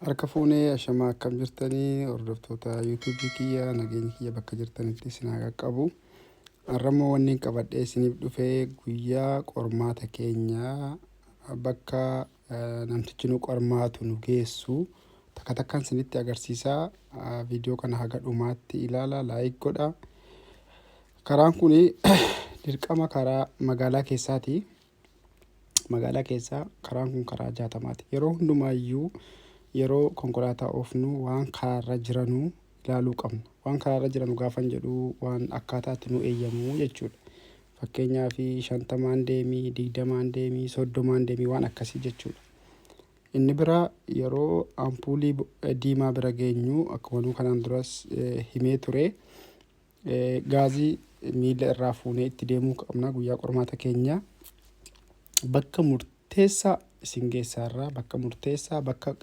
Harka fuunee ashamaa akkam jirtanii hordoftoota yuutuubii kiyya nageenyi kiyya bakka jirtanitti isin haa qaqqabu. Har'ammoo wanni hin qabadhee isiniif dhufe guyyaa qormaata keenya bakka eh, namtichi nu qormaatu nu geessu takka takkaan isinitti agarsiisaa. Ah, Viidiyoo kana haga dhumaatti ilaala laayik godha. Karaan kun dirqama karaa magaalaa keessaati. magaalaa keessaa karaan kun karaa jaatamaati. Yeroo hundumaayyuu yeroo konkolaataa oofnu waan karaarra jiranu ilaaluu qabna. Waan karaarra jiranu gaafan jedhu waan akkaataatti nu eeyyamu jechuudha. Fakkeenyaa fi shantamaan deemii, digdamaan deemii, soddomaan deemii waan akkasii jechuudha. Inni biraa yeroo ampuulii diimaa bira geenyu akkuma kanaan duras himee ture Gaazii miila irraa fuunee itti deemuu qabna guyyaa qormaata keenya bakka murteessaa isin geessaa irraa bakka murteessaa bakka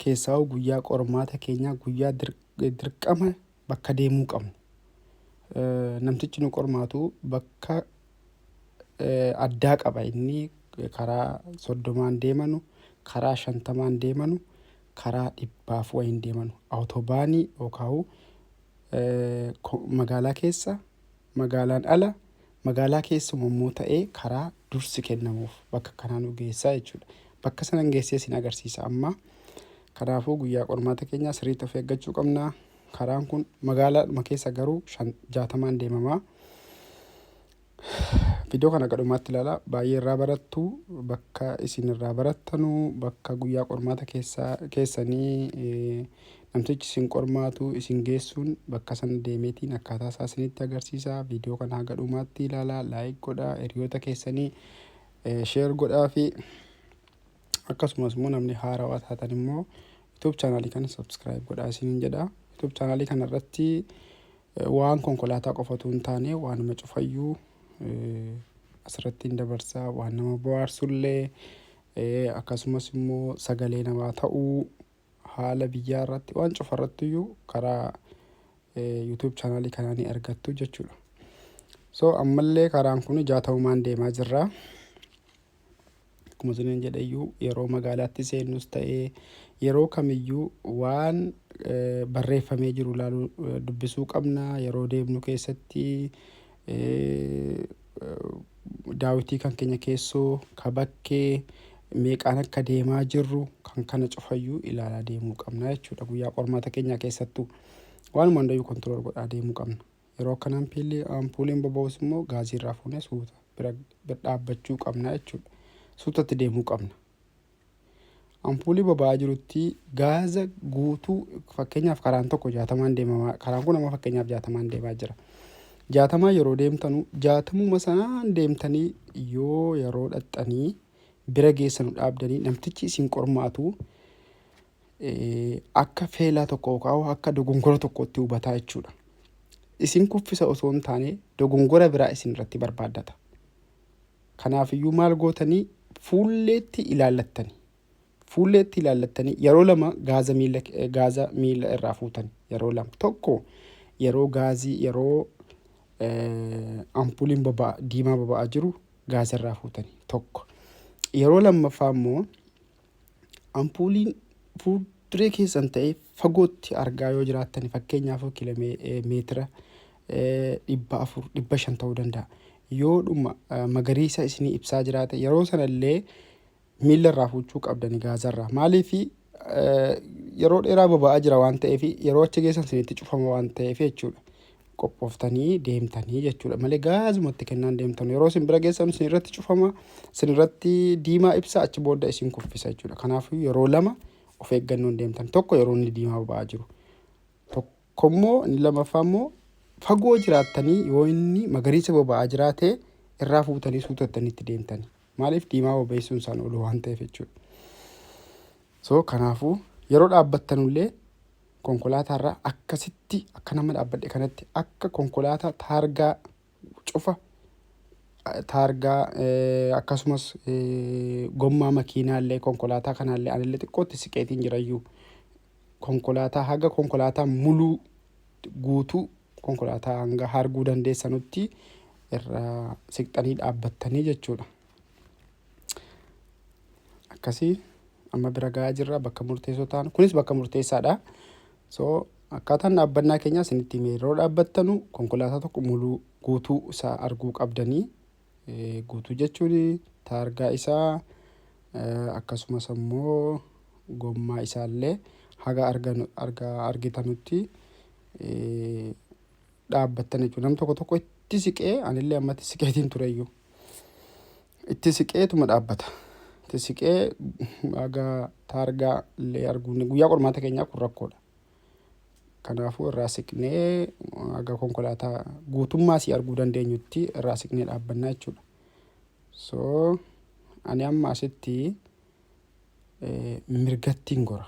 keessaa'u guyyaa qormaata keenyaa guyyaa dirqama bakka deemuu qabnu. Namtichi nu qormaatu bakka addaa qaba inni karaa soddomaan deemanu karaa shantamaan deemanu karaa dhibbaaf wayiin deemanu awutobaanii yookaan magaalaa keessa, magaalaan ala, magaalaa keessuma immoo ta'ee karaa dursi kennamuuf bakka kanaa nu geessaa jechuudha. Bakka sanan geessee sin agarsiisa amma. Kanaafuu guyyaa qormaata keenyaa sirriitti of eeggachuu qabna. Karaan kun magaalaadhuma keessa garuu jaatamaan deemamaa. Viidiyoo kana akka dhumaatti ilaalaa baay'ee irraa barattu bakka isin irraa barattanu bakka guyyaa qormaata keessaa keessanii eh, namtichi isin qormaatu isin geessuun bakka sana deemeetiin akkaataa isaa isinitti agarsiisa viidiyoo kana haga dhumaatti ilaalaa laayik godhaa hiriyoota keessanii eh, sheer godhaa fi akkasumas immoo namni haarawaa taatan immoo YouTube chaanaalii kana subscribe godhaa isiniin jedha. YouTube chaanaalii kana irratti Waan konkolaataa qofa utuu hin taane waanuma cufayyuu asirratti hin dabarsa. Waan nama bohaarsullee akkasumas immoo sagalee namaa ta'uu haala biyyaa irratti waan cufa irratti iyyuu karaa YouTube chaanaalii kanaa ni argattu jechuudha. So ammallee karaan kun ijaa ta'umaan deemaa jirra. Akkuma isiniin jedheyyuu yeroo magaalaatti seennus ta'ee yeroo kamiyyuu waan barreeffamee jiru ilaaluu dubbisuu qabna. Yeroo deemnu keessatti daawwitii kan keenya keessoo ka bakkee meeqaan akka deemaa jirru kan kana cufayyuu ilaalaa deemuu qabna jechuudha. Guyyaa qormaata keenyaa keessattuu waanuma hundayyuu kontirool godhaa deemuu qabna. Yeroo akkan ampiilli ampuuliin boba'us immoo gaazii irraa fuunee suuta bira bira dhaabbachuu qabna jechuudha. Suutatti deemuu qabna. Ampuulii boba'aa jirutti gaaza guutuu fakkeenyaaf karaan tokko jaatamaan deemamaa karaan kun amma fakkeenyaaf jaatamaan deemaa jira. Jaatamaa yeroo deemtanu jaatamuma sanaan deemtanii yoo yeroo dhaxxanii bira geessanu dhaabdanii namtichi isin qormaatu akka feelaa tokko yookaan akka dogongora tokkootti hubataa jechuudha. Isin kuffisa osoo hin taane dogongora biraa isin irratti barbaaddata. Kanaaf iyyuu maal gootanii fuulleetti ilaallattani. Fuulleetti ilaallattanii yeroo lama gaaza miila gaaza miila irraa fuutan yeroo lama tokko yeroo gaazii yeroo ampuuliin boba'a diimaa boba'aa jiru gaaza irraa fuutani tokko yeroo lammaffaa immoo ampuuliin fuulduree keessan ta'ee fagootti argaa yoo jiraattan fakkeenyaaf kilomeetira dhibba afur dhibba shan ta'uu danda'a. Yoo dhuma magariisa isinii ibsaa jiraate yeroo sanallee miila irraa fuuchuu qabdani gaazarraa. Maaliif yeroo dheeraa boba'aa jira waan ta'eef yeroo achi geessan isinitti cufama waan ta'eef jechuudha. qophooftanii deemtanii jechuudha malee gaazuma itti kennaan deemtan yeroo isin bira geessan isin irratti cufama isin irratti diimaa ibsa achi booda isin kuffisa jechuudha kanaafuu yeroo lama of eeggannoon deemtan tokko yeroo inni diimaa ba'aa jiru tokko immoo inni lamaffaa immoo fagoo jiraattanii yoo inni magariisa boba'aa jiraate irraa fuutanii suutattanii itti deemtani maaliif diimaa bobeessuun isaan oolu waan ta'eef jechuudha so kanaafuu yeroo dhaabbattanullee konkolaataarra akkasitti akka nama dhaabbadhe kanatti akka konkolaataa taargaa cufa taargaa akkasumas gommaa makiinaallee konkolaataa kanaallee anillee xiqqootti siqeetiin jirayyuu konkolaataa haga konkolaataa muluu guutuu konkolaataa hanga harguu dandeessanutti irraa siqxanii dhaabbattanii jechuudha. akkasii amma bira ga'aa jirra bakka murteessoo taanu kunis bakka murteessaadha so akkaataan dhaabbannaa keenyaa isinitti hime yeroo dhaabbattanu konkolaataa tokko muluu guutuu isaa arguu qabdanii guutuu jechuun taargaa isaa akkasumas ammoo gommaa isaallee haga argitanutti dhaabbattan jechuudha. Nam tokko tokko itti siqee anillee ammatti siqeetiin tureyyuu. Itti siqeetuma dhaabbata. Itti siqee haga taargaa illee arguun guyyaa qormaata keenyaa kun rakkoodha. Kanaafuu irraa siqnee haga konkolaataa guutummaa si arguu dandeenyutti irraa siqnee dhaabbannaa jechuudha. So ani amma asitti eh, mirgattiin gora.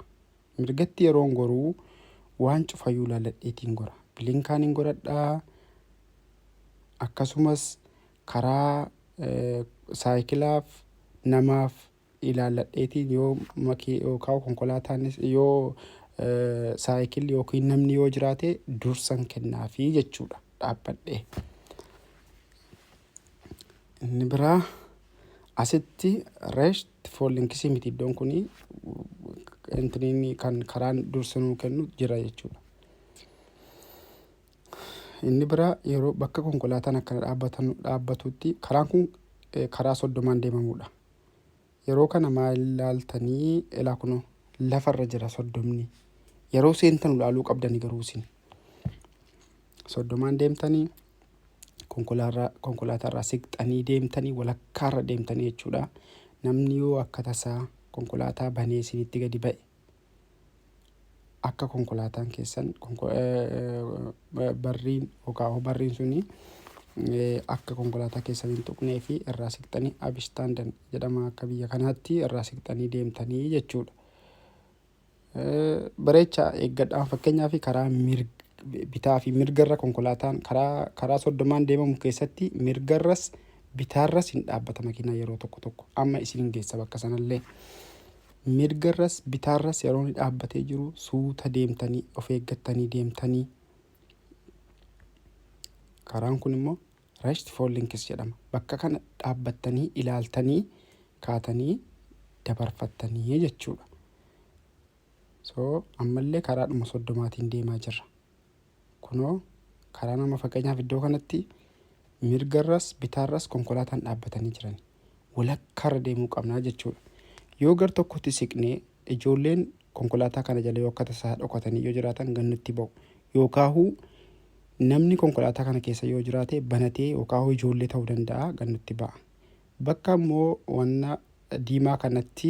Mirgatti yeroon goruu waan cufayuu laaladheetiin gora. Bilinkaan hin godhadha akkasumas karaa saayikilaaf namaaf ilaalladheetiin yoo makii yookaan konkolaataanis yoo saayikilli yookiin namni yoo jiraate dursan kennaafii jechuudha. dhaabbadhe. Inni biraa asitti rest for links miti iddoon kun intiniin kan karaan dursa nuu kennu jira jechuudha. Inni biraa yeroo bakka konkolaataan akkana dhaabbatan dhaabbatutti karaan kun karaa soddomaan deemamudha. Yeroo kana maal ilaaltanii? Elaa kunoo lafa irra jira soddomni. Yeroo seentanu ilaaluu qabdani garuu isin. Soddomaan deemtanii konkolaarraa- konkolaataarraa siqxanii deemtanii walakkaarra deemtanii jechuudha. Namni yoo akka tasaa konkolaataa banee isinitti gadi ba'e akka konkolaataan keessan barriin yookaan barriin suni akka konkolaataa keessan hin tuqnee fi irraa siqxanii abishtaandan jedhama akka biyya kanaatti irraa siqxanii deemtanii jechuudha. Bareecha eeggadhaan fakkeenyaa fi karaa bitaa fi mirgarra konkolaataan karaa karaa soddomaan deemamu keessatti mirgarras bitaarras hin dhaabbata makiinaa yeroo tokko tokko amma isin hin geessa bakka sanallee. Mirgarras bitaarras yeroo inni dhaabbatee jiru suuta deemtanii of eeggattanii deemtanii karaan kun immoo rashti foollinkis jedhama. Bakka kana dhaabbattanii ilaaltanii kaatanii dabarfattanii jechuudha. So ammallee karaadhuma soddomaatiin deemaa jirra. Kunoo karaa nama fakkeenyaaf iddoo kanatti mirgarras bitaarras konkolaataan dhaabbatanii jiran. Walakkaarra deemuu qabnaa jechuudha. Yoo gar tokkotti siqnee ijoolleen konkolaataa kana jala yoo akka tasaa dhokatanii yoo jiraatan gannutti ba'u. Yookaahuu namni konkolaataa kana keessa yoo jiraate banatee yookaahuu ijoollee ta'uu danda'a gannutti ba'a. Bakka immoo wanna diimaa kanatti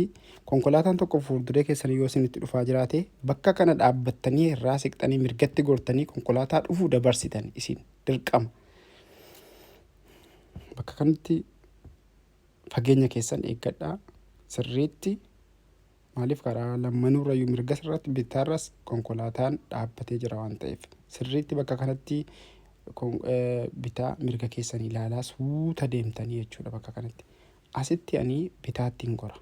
konkolaataan tokko fuulduree keessan yoo isinitti dhufaa jiraate bakka kana dhaabbattanii irraa siqxanii mirgatti gortanii konkolaataa dhufu dabarsitan isin dirqama. Bakka kanatti fageenya keessan eeggadhaa sirriitti. Maaliif karaa lammanuurrayyuu mirgas irratti bittaarras konkolaataan dhaabbatee jira waan ta'eef sirriitti bakka kanatti bitaa mirga keessan ilaalaa suuta deemtanii jechuudha bakka kanatti. Asitti ani bitaatti hin gora.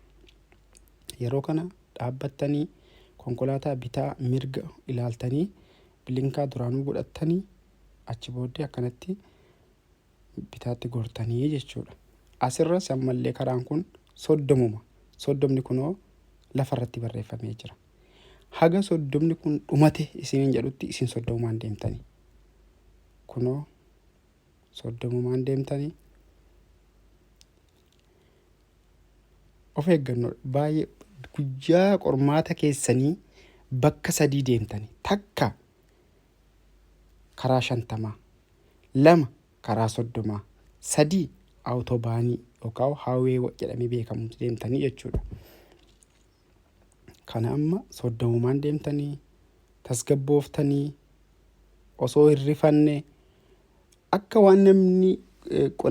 Yeroo kana dhaabbattanii konkolaataa bitaa mirga ilaaltanii bilinkaa duraanuu godhattanii achi booddee akkanatti bitaatti gortanii jechuudha. Asirras ammallee karaan kun soddomuma. Soddomni kunoo lafarratti barreeffamee jira. Haga soddomni kun dhumate isiniin jedhutti isin soddomumaan deemtanii. Kunoo soddomumaan deemtanii. Of eeggannoo baay'ee guyyaa qormaata keessanii bakka sadii deemtanii takka karaa shantamaa, lama karaa soddomaa, sadii awutoobaanii yookaan haawwee jedhamee beekamutti deemtanii jechuudha. Kana amma soddomumaan deemtanii tasgabbooftanii osoo hin rifanne akka waan namni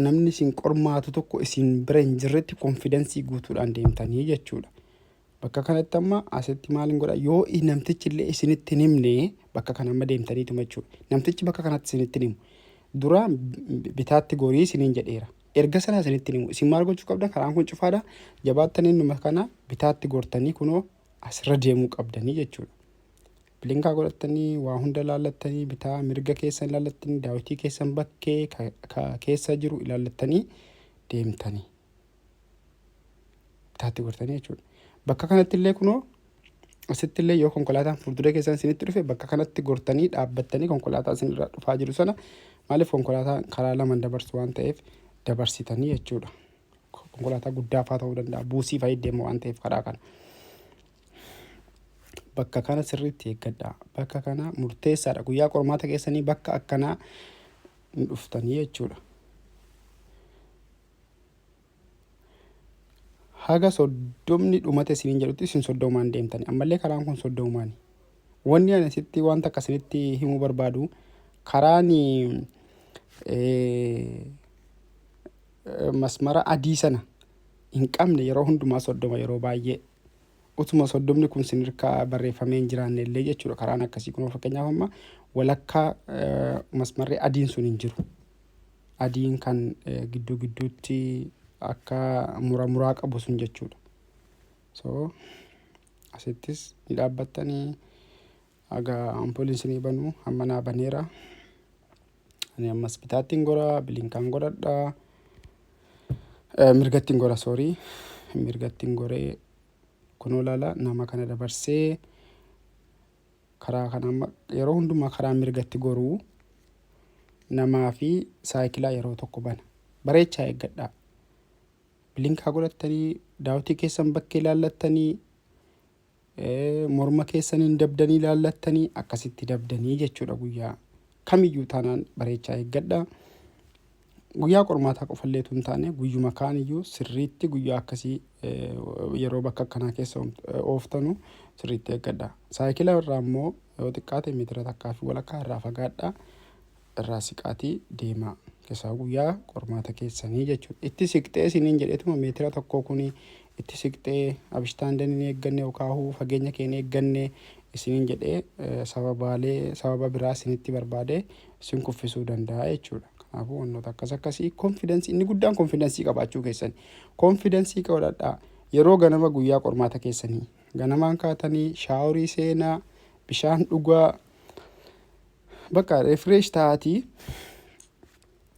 namni isin qormaatu tokko isin bira hin jirretti konfidansii guutuudhaan deemtanii jechuudha. Bakka kanatti amma asitti maal hin godha yoo namtichi illee isinitti hin himne bakka kana amma deemtaniituma jechuudha. Namtichi bakka kanatti isinitti hin himu. Dura bitaatti gorii isiniin jedheera. Erga sana isinitti hin himu. Isin maal gochuu qabdan karaan kun cufaadha. Jabaattanii innuma kana bitaatti gortanii kunoo asirra deemuu qabdanii jechuudha. Bilinkaa godhattanii waa hunda ilaallattanii bitaa mirga keessan ilaallattanii daawwitii keessan bakkee ka keessa jiru ilaallattanii deemtanii. taatti gortanii jechuudha. Bakka kanatti illee kunoo asitti illee yoo konkolaataan fuuldura keessan isinitti dhufe bakka kanatti gortanii dhaabbattanii konkolaataa isinirraa dhufaa jiru sana maaliif konkolaataan karaa lama dabarsu waan ta'eef dabarsitanii jechuudha. Konkolaataa guddaa fa'aa ta'uu danda'a buusii fa'aa deemu waan ta'eef karaa kana. Bakka kana sirriitti eeggadhaa. Bakka kana murteessaadha. Guyyaa qormaata keessanii bakka akkanaa hin dhuftanii jechuudha. haga soddomni dhumate isiniin jedhutti isin soddomaan deemtani ammallee karaan kun soddomaani wanni ani sitti wanta akka isinitti himuu barbaadu karaan masmara adii sana hin qabne yeroo hundumaa soddoma yeroo baay'ee utuma soddomni kun sin irkaa barreeffamee hin jiraanne illee jechuudha karaan akkasii kun fakkeenyaaf amma walakkaa masmarri adiin sun hin jiru. adiin kan gidduu gidduutti akka mura muraa qabu sun jechuudha. So asittis ni dhaabbattanii haga ampooliin isinii banu hamma naa baneera. Ani ammas bitaattiin gora bilinkaan godhadha. Mirgattiin gora soorii mirgattiin goree kunoo laala nama kana dabarsee. karaa kana amma yeroo hundumaa karaa mirgatti goruu namaa fi saayikilaa yeroo tokko bana bareechaa eeggadhaa bilinkaa godhattanii daawtii keessan bakkee laallattanii eh, morma keessaniin dabdanii laallattanii akkasitti dabdanii jechuudha guyyaa kamiyyuu taanaan bareechaa eeggadhaa Guyyaa qormaataa qofallee utuu hin taane guyyuma kaan iyyuu sirriitti guyyaa akkasii yeroo bakka akkanaa keessa ooftanu sirriitti eeggadha. Saayikila irraa immoo yoo xiqqaate meetira takkaa fi walakkaa irraa fagaadha irraa siqaatii deemaa. Keessaa guyyaa qormaata keessanii jechuudha. Itti siqxee isiniin jedheetuma meetira tokkoo kuni itti siqxee abishtaandeen hin eegganne yookaahuu fageenya kee hin eegganne isiniin jedhee sababaalee sababa biraa isinitti barbaadee sin kuffisuu danda'a jechuudha. Kanaafuu wantoota akkas akkasii konfidansii inni guddaan konfidansii qabaachuu keessani. Konfidansii qabadhaa yeroo ganama guyyaa qormaata keessanii ganamaan kaatanii shaaworii seenaa bishaan dhugaa bakka refresh ta'aatii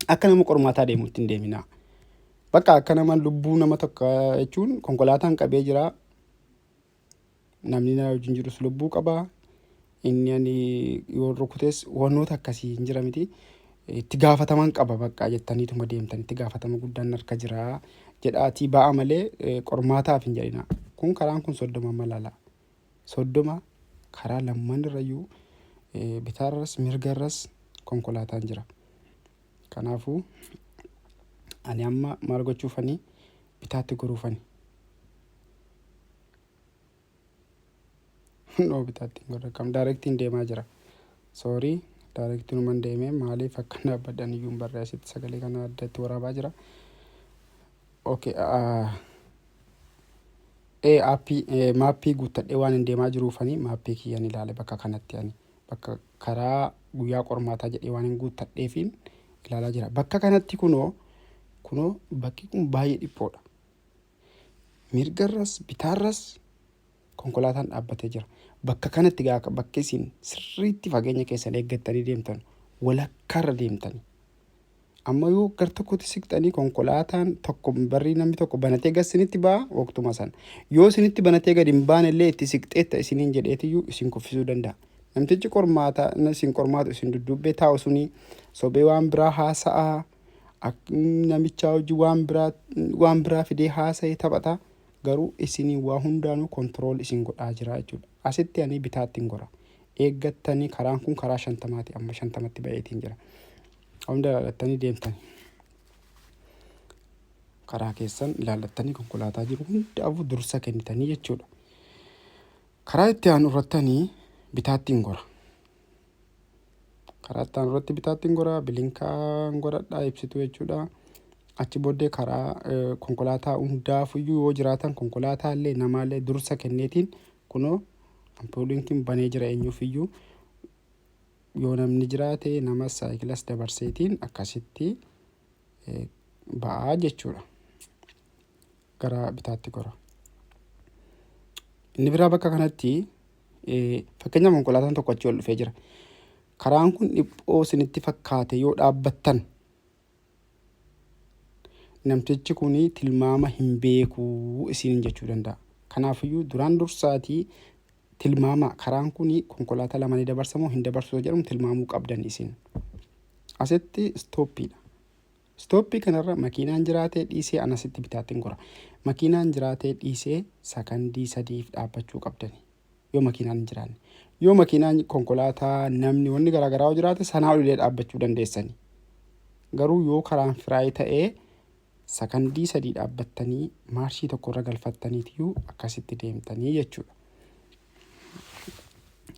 akka nama qormaataa deemutti hin deeminaa. Bakka akka nama lubbuu nama tokko jechuun konkolaataan qabee jira namni na wajjin jirus lubbuu qaba. Inni ani yoo rukutes wantoota akkasii hin jira miti. Itti gaafataman qaba baqqaa jettaniituma deemtan itti gaafatama guddaan harka jira jedhaatii ba'a malee eh, qormaataaf hin jedhina. Kun karaan kun soddoma amma laala. Soddoma karaa lamman irrayyuu eh, bitaarras mirgarras konkolaataan jira. Kanaafuu ani amma maal gochuufani bitaatti goruufani. noo bitaatti hin godha kam daayirektiin deemaa jira soorii daayirektiin uman deemee maaliif akka dhaabbadhan iyyuu hin barre asitti sagalee kana addatti waraabaa jira okay ee aappii maappii guuttadhee waan hin deemaa jiruufanii maappii kiyyan ilaale bakka kanatti ani bakka karaa guyyaa qormaataa jedhee waan hin guuttadheefiin ilaalaa jira bakka kanatti kunoo kunoo bakki kun baay'ee dhiphoodha Mirgarras bitaarras konkolaataan dhaabbatee jira. Bakka kanatti gaa bakka isin sirriitti fageenya keessan eeggattanii deemtan walakkaarra deemtani. Amma yoo gar tokkotti siqxanii konkolaataan tokko barrii namni tokko banatee gas isinitti ba'a waqtuma sana. Yoo isinitti banatee gad hin baane illee itti siqxeetta isiniin jedheetiyyuu isin kuffisuu danda'a. Namtichi qormaataa isin qormaatu isin dudduubbee taa'u suni sobee waan biraa haasa'aa. Ak- namichaa hojii waan biraa waan biraa fidee haasa'e taphata garuu isinii waa hundaanuu kontirool isin godhaa jira jechuudha asitti ani bitaatti hin gora eeggattanii karaan kun karaa shantamaati amma shantamatti ba'eetiin jira hunda ilaallattanii deemtan karaa keessan ilaallattanii konkolaataa jiru hundaafuu dursa kennitanii jechuudha karaa itti aanu irrattanii bitaatti hin gora Karaa itti aanu irratti bitaattiin gora, bilinkaan godhadha ibsituu jechuudha. Achi booddee karaa eh, konkolaataa hundaafuyyuu yoo jiraatan konkolaataa illee namaa illee dursa kenneetiin kunoo ampooliin kun banee jira eenyuufiyyuu yoo namni jiraate namas saayikilas dabarseetiin akkasitti ba'aa jechuudha. Gara bitaatti gora. Inni biraa bakka kanatti fakkeenyaaf konkolaataan tokko achii ol dhufee jira. Karaan kun dhiphoo isinitti fakkaate yoo dhaabbattan namtichi kun tilmaama hin beeku isiniin jechuu danda'a. Kanaafiyyuu duraan dursaatii Tilmaamaa, karaan kun konkolaataa lama ni dabarsa moo hin dabarsu isa jedhamu tilmaamuu qabdan isin. Asitti istooppiidha. Istooppii kanarra makiinaan jiraatee dhiisee an asitti bitaattiin gora. Makiinaan jiraatee dhiisee sakandii sadiif dhaabbachuu qabdani. Yoo makiinaan hin jiraanne. Yoo makiinaan konkolaataa namni wanni garaagaraa yoo jiraate sanaa olilee dhaabbachuu dandeessani. Garuu yoo karaan firaayii ta'ee Sakandii sadii dhaabbattanii maarshii tokko irra galfattaniitiyuu akkasitti deemtanii jechuudha.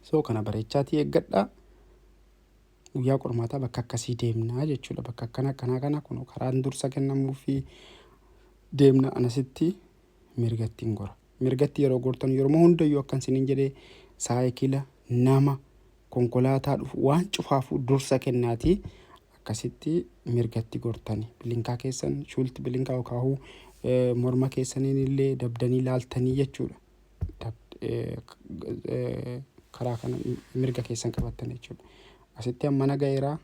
So kana bareechaatii eeggadhaa. Guyyaa qormaataa bakka akkasii deemnaa jechuudha. Bakka akkana akkanaa kana kun karaan dursa kennamuu fi deemna anasitti mirgatti hin gora. Mirgatti yeroo gortan yeroo hundayyuu akkan sinin jedhee saayikila nama konkolaataa dhufu waan cufaafuu dursa kennaati akkasitti mirgatti gortani bilinkaa keessan shuulti bilinkaa yokaahuu morma keessaniin illee dabdanii laaltanii jechuudha karaa kana mirga keessan qabattan jechuudha asitti ammana ga'eeraa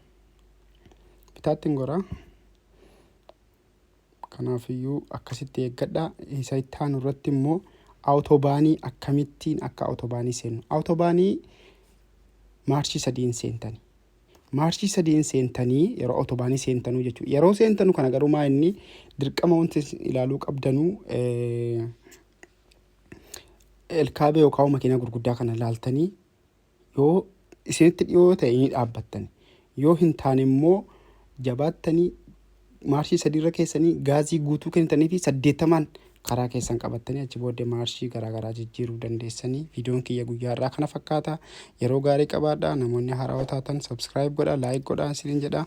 bitaattiin goraa Kanaaf iyyuu akkasitti eeggadha. Isa itti aanu irratti immoo awutobaanii akkamittiin akka awutobaanii seennu. Awutobaanii maarshii sadiin seentani. Maarshii sadiin seentanii yeroo awutobaanii seentanuu jechuudha. Yeroo seentanu kana garuu maa inni dirqama wanti isin ilaaluu qabdanuu eh, elkaabee yookaan makiinaa gurguddaa kana ilaaltanii Yoo isinitti dhiyoo ta'e ni dhaabbattani. Yoo hin taane immoo jabaattanii maarshii sadiirra keessanii gaazii guutuu kennitanii fi saddeettamaan karaa keessan qabattanii achi booddee maarshii garaagaraa jijjiiruu dandeessanii viidiyoon kiyya guyyaa irraa kana fakkaata yeroo gaarii qabaadha namoonni haaraa taatan sabskiraayib godha laayik godha isiniin jedha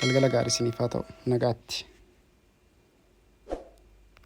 galgala gaarii isiniif haa ta'u nagaatti.